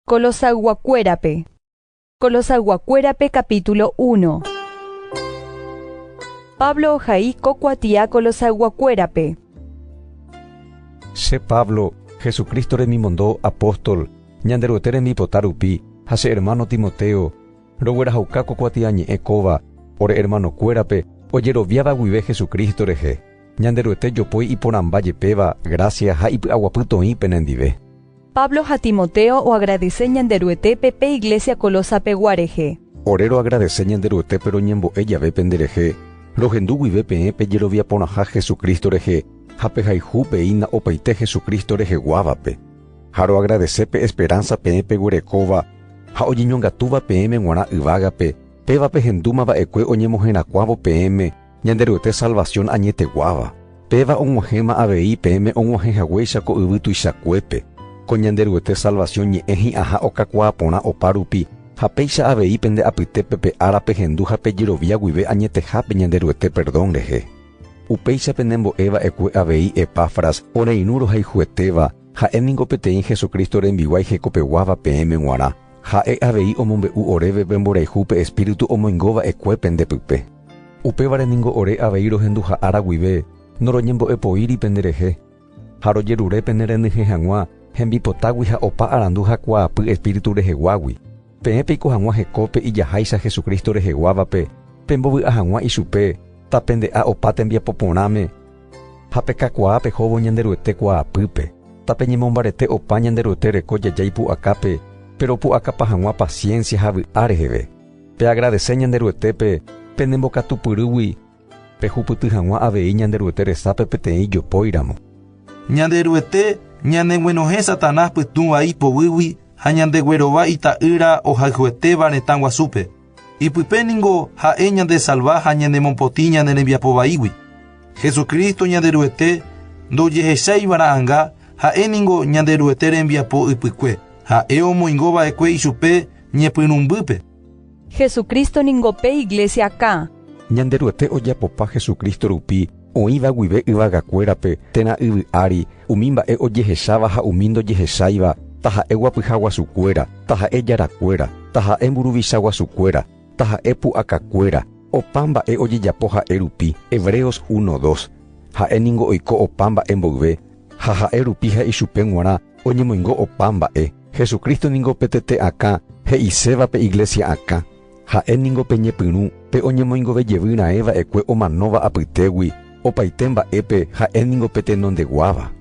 Kolosayguakuérape Kolosayguakuérape capítulo 1 Pablo ohai ko kuatia Kolosayguakuérape. Che Pablo, Jesucristo remimondo apóstol, Ñanderuete rembipota rupi, ha che hermano Timoteo, roguerahauka ko kuatia ñe'ẽ kóva, ore hermanokuérape ojeroviáva guive Jesucristo rehe, Ñanderuete jopói iporãmba jepéva gracia ha ipy'aguapy toĩ penendive. Pablo ha Timoteo oagradese Ñanderuetépe pe iglésia Colosapegua rehe. Ore roagradese Ñanderuetépe roñembo'e jave penderehe, rohendu guive peẽ pe jerovia porãha Jesucristo rehe ha pehayhu peína opaite Jesucristo reheguávape. Ha roagradese pe esperánsa peẽ peguerekóva ha ojeñongatúva peẽme g̃uarã yvágape, péva pehendúma va'ekue oñemoherakuãvo peẽme, Ñanderuete salvación añeteguáva, péva og̃uahẽma avei peẽme og̃uahẽ haguéicha ko yvy tuichakuépe, ko Ñanderuete salvación ñe'ẽ hi'ãha okakuaa porã opa rupi, ha péicha avei pende apytépe pe ára pehendu ha pejerovia guive añetehápe Ñanderuete perdón rehe. Upéicha penembo'e va'ekue avei Epafras oreirũ rohayhuetéva, ha'e ningo peteĩ Jesucristo rembiguái hekopeguáva peẽme g̃uarã, ha'e avei omombe'u oréve pe mborayhu pe Espíritu omoingo va'ekue pende pype. Upévare ningo ore avei rohenduha ára guive noroñembo'epoíri penderehe, ha rojerure pene renyhẽ hag̃ua hembipotágui ha opa arandu ha kuaapy espíritu reheguágui, peẽ peiko hag̃ua hekópe ijaháicha Jesucristo reheguávape, pembovy'a hag̃ua ichupe tapende'a opa tembiapo porãme, ha pekakuaa pehóvo Ñanderuete kuaapýpe, tapeñemombarete opa Ñanderuete reko jajái pu'akápe, péro opu'akapa hag̃ua paciencia ha vy'a reheve. Peagradese Ñanderuetépe penembokatupyrýgui pehupyty hag̃ua avei Ñanderuete resápe peteĩ ijopóiramo. Ñanderuete ñaneguenohẽ Satanás pytũ vai poguýgui ha ñandeguerova Ita'ýra ohayhuetéva retã guasúpe. Ipype ningo ha'e ñandesalva ha ñanemopotĩ ñane rembiapo vaígui. Jesucristo Ñanderuete ndojehechaiva'erã'anga, ha'e ningo Ñanderuete rembiapo ypykue, ha'e omoingova'ekue ichupe ñepyrũmbýpe. Jesucristo ningo pe iglesia kã. Ñanderuete ojapopa Jesucristo rupi oĩva guive yvagakuérape, térã yvy ári, umi mba'e ojehecháva ha umi ndojehecháiva, taha'e guapyha guasukuéra, taha'e jarakuéra, taha'e mburuvicha guasukuéra, taha'e pu'akakuéra, opa mba'e ojejapo ha'e rupi. Hebreos uno dos. Ha'e ningo oiko opa mba'e mboyve, ha ha'e rupi ha ichupe g̃uarã. Oñemoingo opa mba'e. Jesucristo ningo pe tete akã he'iséva pe iglesia akã. Ha'e ningo pe ñepyrũ, pe oñemoingove jevy raẽ va'ekue omanóva apytégui, opaite mba'épe ha'e ningo pe tenondeguáva.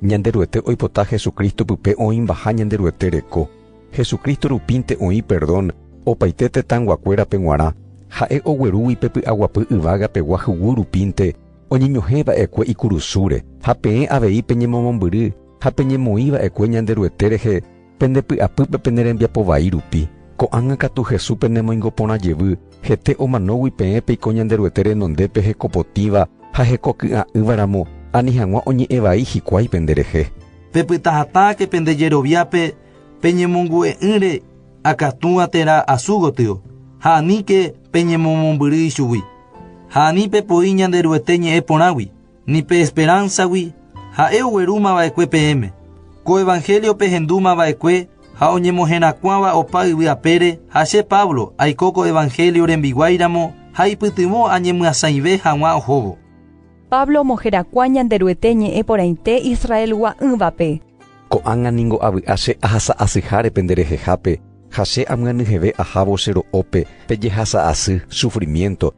Ñanderuete oipota Jesucristo pype oĩmbaha Ñanderuete reko. Jesucristo rupínte oĩ perdón opaite tetãnguakuérape g̃uarã, ha'e oguerúgui pe py'aguapy yvága pegua hyguy rupínte oñeñohẽ va'ekue ikurusúre. Ha peẽ avei peñemomombyry. Ha peñemoĩ va'ekue Ñanderuete rehe pende py'apýpe pene rembiapo vai rupi, ko'ág̃a katu Jesús penemoingo porã jevy, hete omanógui peẽ peiko Ñanderuete renondépe hekopotĩva ha hekoky'a'ỹva ramo, ani hag̃ua oñe'ẽ vai hikuái pende rehe. Pepyta hatãke pende jeroviápe pe ñemongu'e'ỹre akatúva térã asu gotyo, ha aníke peñemomombyry ichugui, ha ani pepoi Ñanderuete ñe'ẽ porãgui. ni pe esperánsagui ha'e oguerúma va'ekue peẽme, ko evanhélio pehendúma va'ekue ha oñemoherakuãva opa yvy apére, ha che Pablo aiko ko evanhélio rembiguáiramo ha ipytyvõ añemyasãive hag̃ua ohóvo. Pablo omoherakuã Ñanderuete ñe'ẽ porãite Israelgua'ỹvape. Ko'ág̃a ningo avy'a che ahasa asyháre pende rehehápe, ha che amyanyheve ahávo che ro'ópe, pe jehasa asy, sufrimiénto,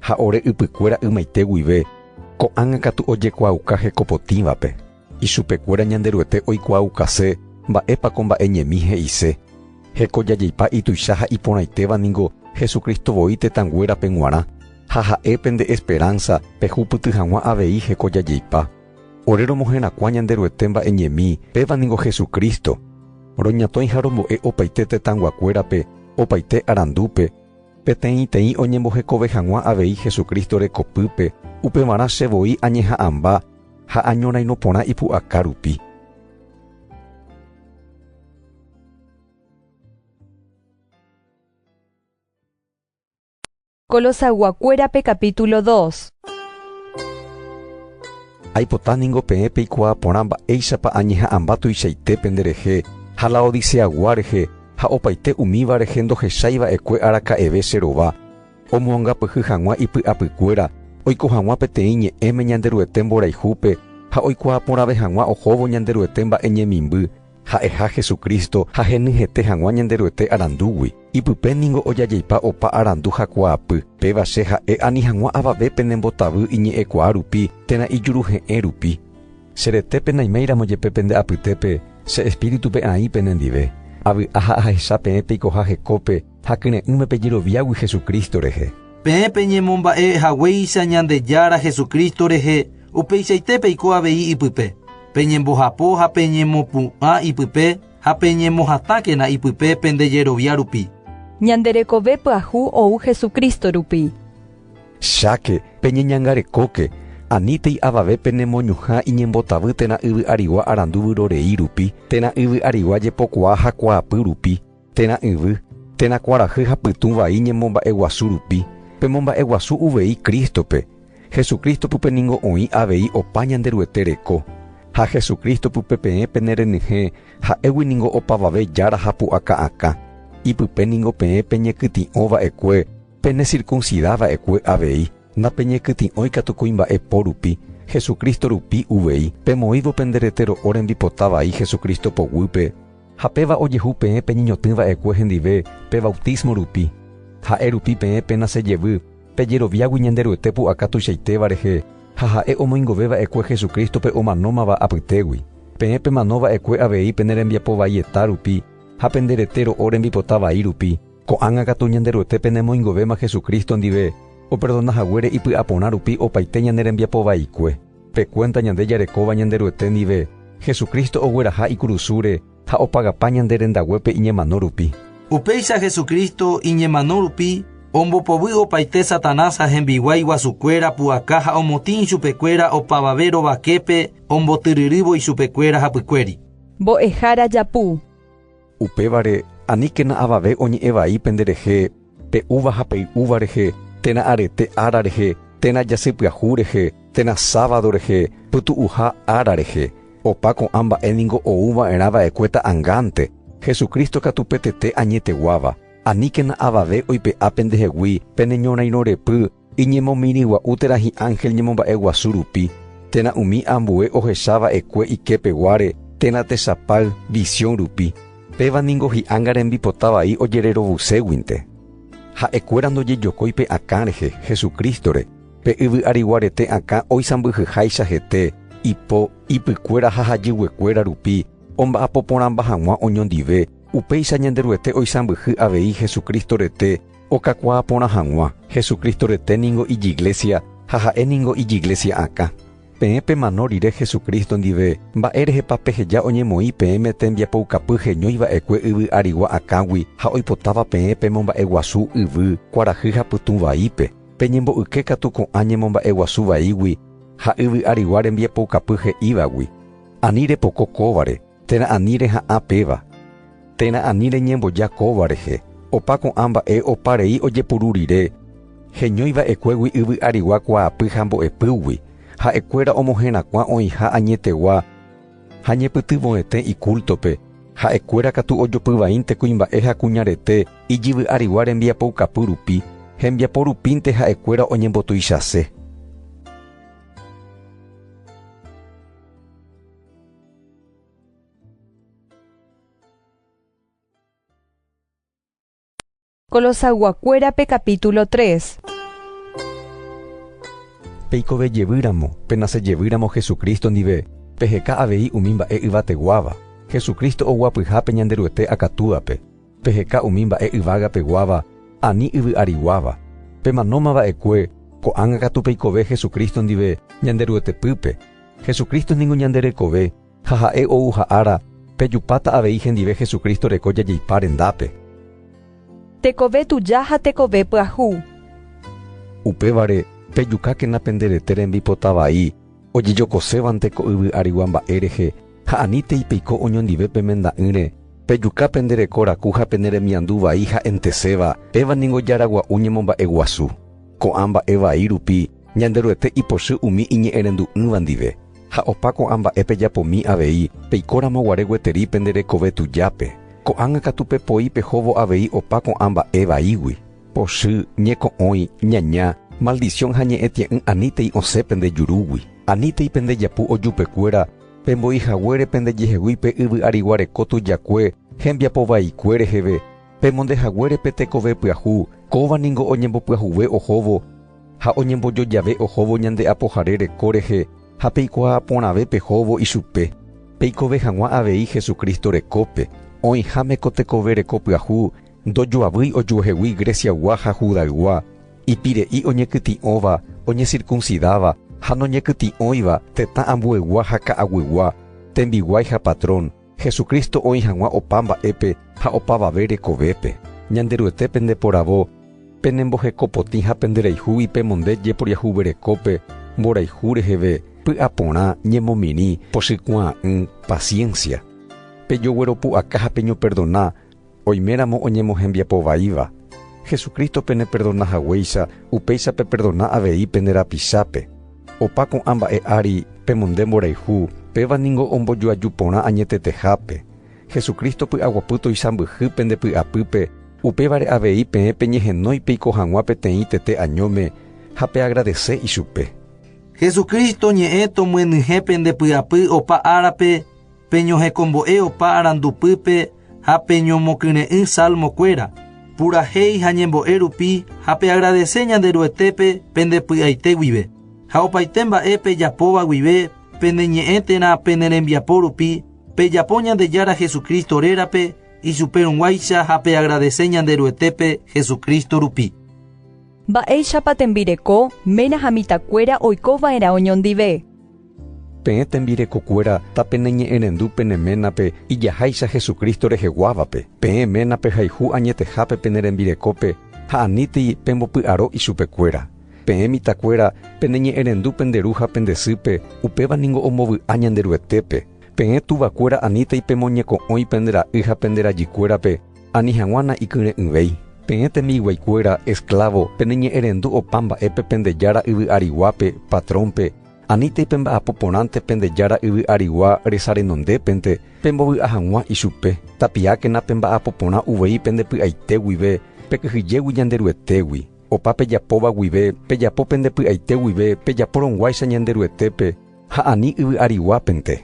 ha ore ypykuéra ymaite guive, ko'ág̃a katu ojekuaauka hekopotĩvape. Ichupekuéra Ñanderuete oikuaaukase mba'épa ko mba'e ñemi he'ise. Heko jajeipa ituicha ha iporãitéva ningo Jesucristo voi tetãnguérape g̃uarã, ha ha'e pende esperánsa pehupyty hag̃ua avei heko jajeipa. Ore romoherakuã Ñanderuete mba'e ñemi, péva ningo Jesucristo. Roñatõi ha rombo'e opaite tetãnguakuérape opaite arandúpe, Peteĩteĩ oñembohekove hag̃ua avei Jesucristo rekopýpe, upevarã che voi añeha'ãmba ha añorairõ porã ipu'aka rupi. Colosayguakuérape capítulo dos. Aipota ningo peẽ peikuaa porã mba'éichapa añeha'ãmba tuichaite pende rehe ha Laodiceagua rehe ha opaite umíva rehe ndohechái va'ekue araka'eve che rova, omoangapyhy hag̃ua ipy'apykuéra oiko hag̃ua peteĩ ñe'ẽme Ñanderuete mborayhúpe ha oikuaa porãve hag̃ua ohóvo Ñanderuete mba'eñemimby, Ha'eha Hesu Crísto ha henyhẽte hag̃ua Ñanderuete arandúgui, ipype ningo ojajeipa opa arandu ha kuaapy, péva che ha'e ani hag̃ua avave penembotavy iñe'ẽkuaa rupi térã ijuruhe'ẽ rupi. Che rete penaiméiramo jepe pende apytépe, che Espíritupe aĩ penendive. Avy'a ha ahecha peẽ peikoha hekópe, Ha kyre'ỹme pe jeroviágui Jesucristo rehe. Peẽ peñemomba'e haguéicha Ñandejára Jesucristo rehe, upeichaite peiko avei ipype, peñembohapo ha peñemopu'ã ipype ha peñemohatãkena ipype pende jerovia rupi. Ñande rekove pyahu ou Jesucristo rupi. Cháke, peñeñangarekóke, anítei avave penemoñuhã iñembotavy térã yvy arigua arandu vyrorei rupi, térã yvy arigua jepokuaa ha kuaapy rupi, Térã yvy, térã kuarahy ha pytũ vai ñemomba'eguasu rupi, pemomba'eguasu uvei Cristo-pe, Jesucristo pype ningo oĩ avei opa Ñanderuete reko, ha Jesucristo pype peẽ pene renyhẽ ha'égui ningo opavave jára ha pu'aka akã, ipype ningo peẽ peñekytĩ'õ va'ekue pene circuncida va'ekue avei, ndapeñekytĩ'õi katu kuimba'e po rupi, Jesucristo rupi uvei, pemoĩvo pende rete ro'o rembipota vai Jesucristo poguýpe, Ha péva ojehu peẽ peñeñotỹ va'ekue hendive pe vautísmo rupi. Ha'e rupi peẽ péna che jevy, pejeroviágui Ñanderuete pu'aka tuichaitéva rehe ha Ha'e omoingove va'ekue Jesucrístope omanómava apytégui. Peẽ pemano va'ekue avei pene rembiapo vaieta rupi ha pende rete ro'o rembipota vai rupi. Ko'ág̃a katu Ñanderuete penemoingovéma Jesucristo ndive operdona haguére ipy'aporã rupi opaite ñane rembiapo vaikue. Pe kuénta ñande jarekóva Ñanderuete ndive, Jesucristo ogueraha ikurusúre ha opagapa ñande rendaguépe iñemano rupi. Upéicha Jesucristo iñemano rupi ombopovy opaite Satanás ha hembiguái guasukuéra pu'aka ha omotĩ ichupekuéra opavave rovaképe ombotyryrývo ichupekuéra hapykuéri. Mbo'ehára Japu. Upévare, aníkena avave oñe'ẽ vai pende rehe, pe úva ha pei'úva rehe, térã arete ára rehe, térã jasy pyahu rehe, térã sábado rehe, pytu'uha ára rehe. Opa ko'ã mba'e ningo ou va'erã va'ekue ta'angánte, Jesucristo katu pe tete añeteguáva. Aníkena avave oipe'a pendehegui pene ñorairõrepy, Iñemomirĩgua'u térã hi'ángel ñemomba'e guasu rupi, térã umi ambue ohecha va'ekue iképeguáre térã techapáy visión rupi, péva ningo hi'ánga rembipota vai ojererovuséguinte. Ha'ekuéra ndojejokói pe akã rehe, Jesucristo-re, pe yvyariguarete akã oisãmbyhyháicha hete, ipo, ipykuéra ha hajyguekuéra rupi omba'apoporãmba hag̃ua oñondive, upéicha Ñanderuete oisãmbyhy avei Jesucristo rete, Okakuaa porã hag̃ua, Jesucristo rete ningo ijiglesia ha ha'e ningo ijiglesia akã. Peẽ pemano rire Jesucristo ndive, mba'e rehepa peheja oñemoĩ peẽme tembiapoukapy heñói va'ekue yvy arigua akãgui ha oipotáva peẽ pemomba'eguasu yvy, kuarahy ha pytũ vaípe? Peñembo'yke katu ko'ã ñemomba'eguasu vaígui ha yvy arigua rembiapoukapy he'ívagui. Ani repoko kóvare. Térã ani reha'ã péva. Térã ani reñemboja kóva rehe. Opa ko'ã mba'e opa rei ojepuru rire, heñói va'ekuégui yvy arigua kuaapy ha mbo'epýgui, ha'ekuéra omoherakuã oĩha añetegua ha ñepytyvõete ikúltope, ha'ekuéra katu ojopyvaínte kuimba'e ha kuñarete ijyvy arigua rembiapoukapy rupi, hembiapo rupínte ha'ekuéra oñembotuichase. Kolosayguakuérape kapítulo 3 Peikove jevýramo, penase jevýramo Jesucristo ndive, peheka avei umi mba'e yvateguáva, Jesucristo oguapyha pe Ñanderuete akatúape, peheka umi mba'e yvagapeguáva ani yvy'ariguáva. Pemanóma va'ekue, ko'ág̃a katu peikove Jesucristo ndive Ñanderuetepýpe. Jesucristo ningo ñande rekove, ha ha'e ouha ára, pejupáta avei hendive Jesucristo reko jajeipa rendápe. Tekove tuja ha tekove pyahu. Upévare, pejukákena pende rete rembipota vai ojejokosévante ko yvy arigua mba'e rehe, ha anítei peiko oñondive pe menda'ỹre, pejuka pende reko raku ha pene remiandu vai ha'enteséva, péva ningo jaragua'u ñemomba'e guasu. Ko'ã mba'e vai rupi, Ñanderuete ipochy umi iñe'ẽrendu'ỹva ndive, ha opa ko'ã mba'e pejapomi avei, peikóramo guare gueteri pende rekove tujápe. Ko'ág̃a katu pepoi pehóvo avei opa ko'ã mba'e vaígui, pochy, ñeko'õi, ñaña, maldición ha ñe'ẽtie'ỹ anítei osẽ pende jurúgui, anítei pende japu ojupekuéra, pembo'i haguére pende jehegui pe yvy ariguareko tujakue hembiapo vaikue reheve, pemonde haguére pe tekove pyahu, kóva ningo oñembopyahuve ohóvo, Ha oñembojo jave ohóvo ñande Apohare reko rehe ha peikuaa porãve pehóvo ichupe, peikove hag̃ua avei Jesucristo rekópe, oĩháme ko tekove reko pyahu ndojoavýi ojuehegui Greciaygua ha Judaygua, ipire'i oñekytĩ'õva, oñesircuncidáva ha noñekytĩ'õiva, tetã ambueygua ha ka'aguygua, tembiguái ha patrón, Jesucristo oĩ hag̃ua opa mba'épe ha opavave rekovépe. Ñanderuete pendeporavo, penembohekopotĩ ha penderayhúgui pemonde jeporiahuverekópe, mborayhu reheve, py'aporã, ñemomirĩ, pochykuaa'ỹ, paciencia. Pejogueropu'aka ha peñoperdona Oiméramo oñemohembiapo vaíva, Jesucristo peneperdona haguéicha, upéicha peperdona avei pende rapichápe. Opa ko'ã mba'e ári, pemonde mborayhu, péva ningo ombojoaju porã añetetehápe. Jesucristo py'aguapy toisãmbyhy pende py'apýpe, upévare avei peẽ peñehenói peiko hag̃ua peteĩ tete añóme ha peagradese ichupe. Jesucristo ñe'ẽ tomyenyhẽ pende py'apy opa árape peñohekombo'e opa arandupýpe ha peñomokyre'ỹ salmo kuéra, purahéi ha ñembo'e rupi ha peagradese Ñanderuetépe pende py'aite guive, ha opaite mba'e pejapóva guive pene ñe'ẽ térã pene rembiapo rupi pejapo Ñandejára Jesucristo rérape ichupe rũguáicha ha peagradese Ñanderuetépe Jesucristo rupi. Mba'éichapa tembireko ména ha mitãkuéra oiko va'erã oñondive? Peẽ tembirekokuéra tapeneñe'ẽrendu pene ménape ijaháicha Jesucristo reheguávape, peẽ ménape hayhu añetehápe pene rembirekópe ha anítei pembopy'aro ichupekuéra. Peẽ mitakuéra peneñe'ẽrendu pende ru ha pende sýpe, upéva ningo ombovy'a Ñanderuetépe. Peẽ tuvakuéra anítei pemoñeko'õi pende ra'y ha pende rajykuérape ani hag̃ua na'ikyre'ỹvéi. Peẽ tembiguaikuéra esklávo peneñe'ẽrendu opa mba'épe pende jára yvy'ariguápe, patrónpe, Anítei pemba'apo porãnte pende Jára yvy arigua resa renondépente, pembovy'a hag̃ua ichupe. Tapiákena pemba'apo porã uvei pende py'aite guive, pekyhyjégui Ñanderuetégui. Opa pejapóva guive, pejapo pende py'aite guive pejapórõguáicha Ñanderuetépe, ha ani yvy ariguápente.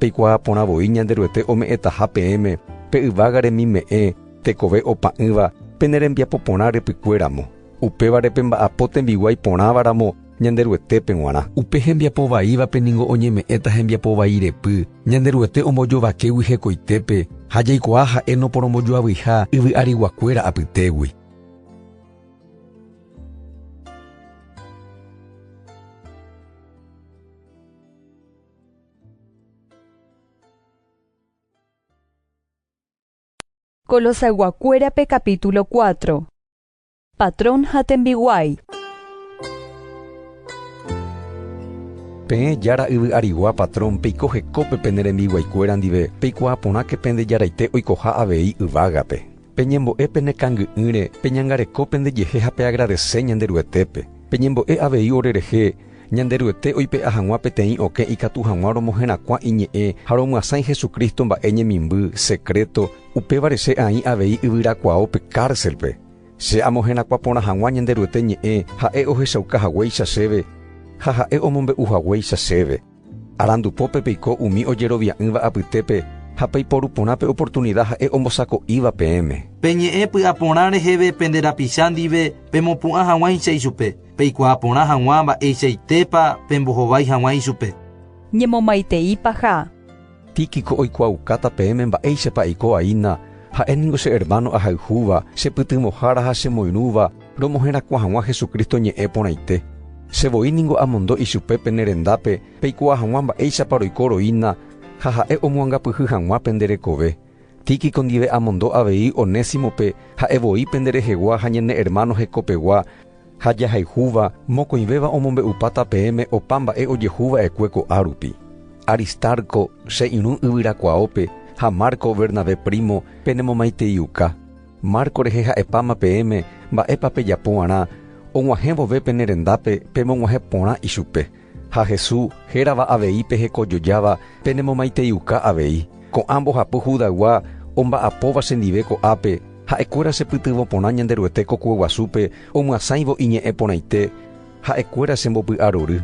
Peikuaa porã voi Ñanderuete ome'ẽtaha peẽme pe yvága remime'ẽ tekove opa'ỹva pene rembiapo porã rypykuéramo, upévare pemba'apo tembiguái porãvaramo Ñanderuetépe g̃uarã. Upe hembiapo vaívape ningo oñeme'ẽta hembiapo vai repy, Ñanderuete ombojovakégui hekoitépe ha jaikuaa ha'e noporombojoavyiha yvy ariguakuéra apytégui. Colosayguakuérape capítulo 4 Patrón ha tembiguái Peẽ Jára yvy arigua patrón peiko hekópe pene rembiguaikuéra ndive, peikuaa porãke pende jaraite oikoha avei yvágape. Peñembo'e pene kangy'ỹre, peñangareko pendejehe ha peagradese Ñanderuetépe. Peñembo'e avei orerehe, Ñanderuete oipe'a hag̃ua peteĩ okẽ ikatu hag̃ua romoherakuã iñe'ẽ ha romyasãi Jesucristo mba'e ñemimby, secreto, upévare che aĩ avei yvyrakuao pe cárcelpe. Che amoherakuã porã hag̃ua Ñanderuete ñe'ẽ, ha'e ohechauka haguéicha chéve ha ha'e omombe'u haguéicha chéve. Arandu pópe peiko umi ojerovia'ỹva apytépe ha peiporu porã pe oportunida ha'e ombosako'íva peẽme. Peñe'ẽ py'aporã reheve pende rapicha ndive pemopu'ã hag̃uáicha ichupe, peikuaa porã hag̃ua mba'eichaitépa pembohovái hag̃ua ichupe. Ñemomaitei paha. Tíquico oikuaaukáta peẽme mba'éichapa aiko aína, ha'e ningo che hermano ahayhúva, chepytyvõhára ha chemoirũva romoherakuã hag̃ua Jesucristo ñe'ẽ porãite. Che voi ningo amondo ichupe pene rendápe peikuaa hag̃ua mba'éichapa roiko roína ha ha'e omoangapyhy hag̃ua pende rekove. Tíquico ndive amondo avei Onésimope ha'e voi pende rehegua ha ñane hermano hekopegua, Ha jahayhúva mokõivéva omombe'upáta peẽme opa mba'e ojehu va'ekue ko'á rupi. Aristarco, che irũ yvyrakuaópe, ha Marco, Bernabé primo, penemomaiteiuka. Marco rehe ha'epáma peẽme mba'épa pejapo g̃uarã og̃uahẽ vove pene rendápe pemog̃uahẽ porã ichupe. Ha Hesu hérava avei pe hekojojáva penemomaiteiuka avei, ko'ã mbohapy Judaygua omba'apóva chendive ko'ápe, ha'ekuéra chepytyvõ porã Ñanderuete kokueguasúpe omyasãivo iñe'ẽ porãite, ha'ekuéra chembopy'arory.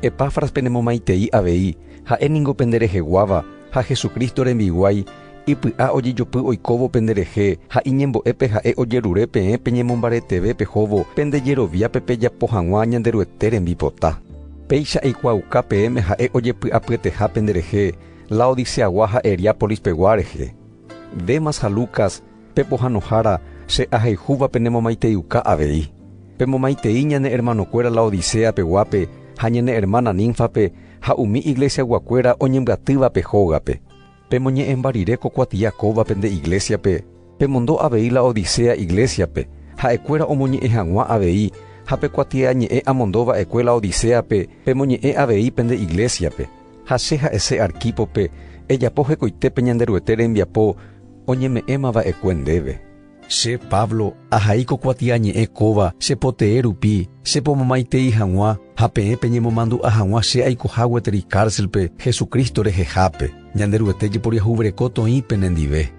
Epafras penemomaitei avei, ha'e ningo pendereheguáva, ha Jesucristo rembiguái, Ipy'a ojejopy oikóvo penderehe, ha iñembo'épe ha'e ojerure peẽ peñemombareteve pehóvo pende jeroviápe pejapo hag̃ua Ñanderuete rembipota. Péicha eikuaauka peẽme ha'e ojepy'apyeteha penderehe Laodiceagua ha Heriápolispegua rehe. Demas ha Lucas, pe pohãnohára, che ahayhúva penemomaiteiuka avei. Pemomaitei ñane ermanokuéra Laodicea peguápe ha ñane ermána Nínfape ha umi iglesiaguakuéra oñembyatývape hógape. Pemoñe'ẽmba rire ko kuatia kóvape nde iglésiape, pemondo avei Laodicea iglésiape, ha'ekuéra omoñe'ẽ hag̃ua avei, ha pe kuatia ñe'ẽ amondo va'ekue Laodicéape, pemoñe'ẽ avei pende iglésiape. Ha che ha'ese Arquípope, ejapo hekoitépe Ñanderuete rembiapo oñeme'ẽma va'ekue ndéve. Che Pablo, ahai ko kuatiañe'ẽ kóva che potee rupi, che pomomaitei hag̃ua, ha peẽ peñemomandu'a hag̃ua che aikoha gueteri kárselpe Jesucristo rehehápe. Ñanderuete jeporiahuvereko toĩ penendive.